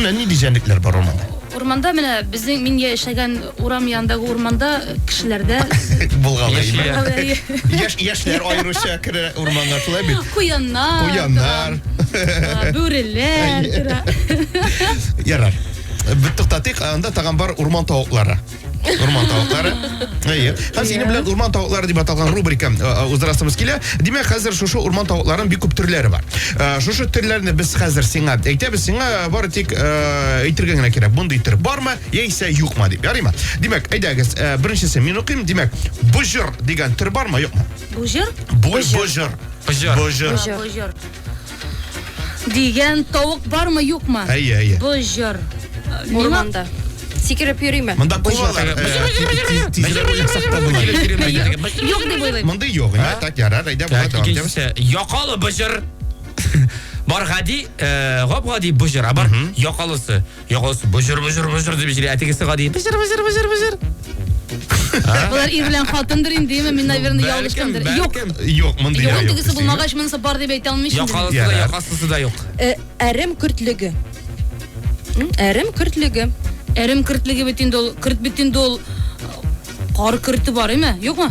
Менә нинди җәнлекләр бар урманда? Урманда менә безнең мин яшәгән урам янындагы урманда кешеләрдә булгалый. Яшь яшьләр аеруча керә урманга шулай бит. Куяннар. Куяннар. Бүреләр. Ярар. Бит туктатыйк, анда тагын бар урман тавыклары. Урман тавыклары. Әйе. Хәзер синең белән урман тавыклары дип аталган рубрика э, э, уздырасыбыз килә. Димәк, хәзер шушы урман тавыкларының бик күп төрләре бар. Э, Шушы төрләрне без хәзер сиңа әйтәбез, сиңа бары тик э, әйтергә генә кирәк. Мондый төр бармы, яисә юкмы дип. Ярыймы? Димәк, әйдәгез, э, беренчесе мин укыйм. Димәк, бужыр дигән төр бармы, юкмы? Бужыр? Бу- Бужыр. Пыжыр. Бужыр. Бужыр. Дигән тавык бармы, юкмы? Әйе, әйе. Боҗыр. Урманда. Сикереп йөриме? Монда кувалар. Юк дип уйлыйм. Монда юк. Так, ярар, әйдә, була давам итәбез. Якалы боҗыр. Бар гади, гап-гади боҗыр, а бар якалысы. Ягыз, боҗыр боҗыр боҗыр дип җыри, ә тегесе гади боҗыр боҗыр боҗыр боҗыр. Болар ир белән хатындыр инде, яме мин наверное ялгышкандыр. Юк. Юк, мондый юк. Юк, тегесе булмагач монысы бар дип әйтә алмыйм. Якалысы да, якасысы да юк. Э, әрем көртлеге. Әрем көртлеге. Әрем көртлеге бит инде ул, көрт бит инде ул. Кар көрте бар, име? Юкмы?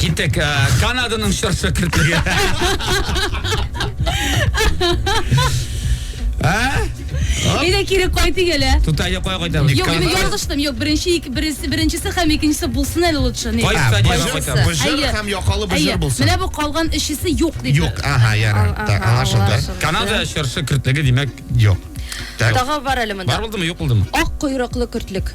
Киттек. Э, Канаданың чорсы кертлеге. А? Әйдә кире кайтыйк әле. Тутайны кая кайтабыз? Юк, мин ялгыштым. Юк, беренче ике беренче беренчесе һәм икенчесе булсын әле лучше. Ни? Кайсы стадион кайтабыз? Бу җыр һәм якалы бу җыр булсын. Менә бу калган өчесе юк диде. Юк, ага, ярар. Так, аңлашылды. Канада чыршы кертлеге димәк юк. Тагы бар әле монда. Бар булдымы, юк булдымы? Ак койрыклы кертлек.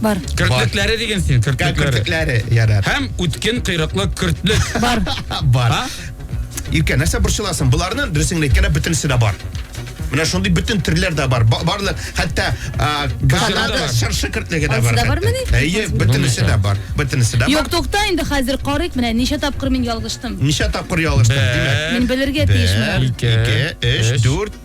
Бар. Кертлекләре диген син, кертлекләре. Кертлекләре, ярар. Һәм үткен кыйрыклы кертлек. Бар. Бар. Иркә, нәрсә борчыласың? Буларны дөресен әйткәндә бөтенесе дә бар. Менә шундый бөтен төрләр дә бар. Барлы, хәтта Канада чыршы кертлеге дә бар. Әйе, бөтенесе дә бар. Бөтенесе дә бар. Юк, тукта инде хәзер карыйк менә ничә тапкыр мин ялгыштым. Ничә тапкыр ялгыштым, димәк. Мин белергә тиешмен. 1 2 3 4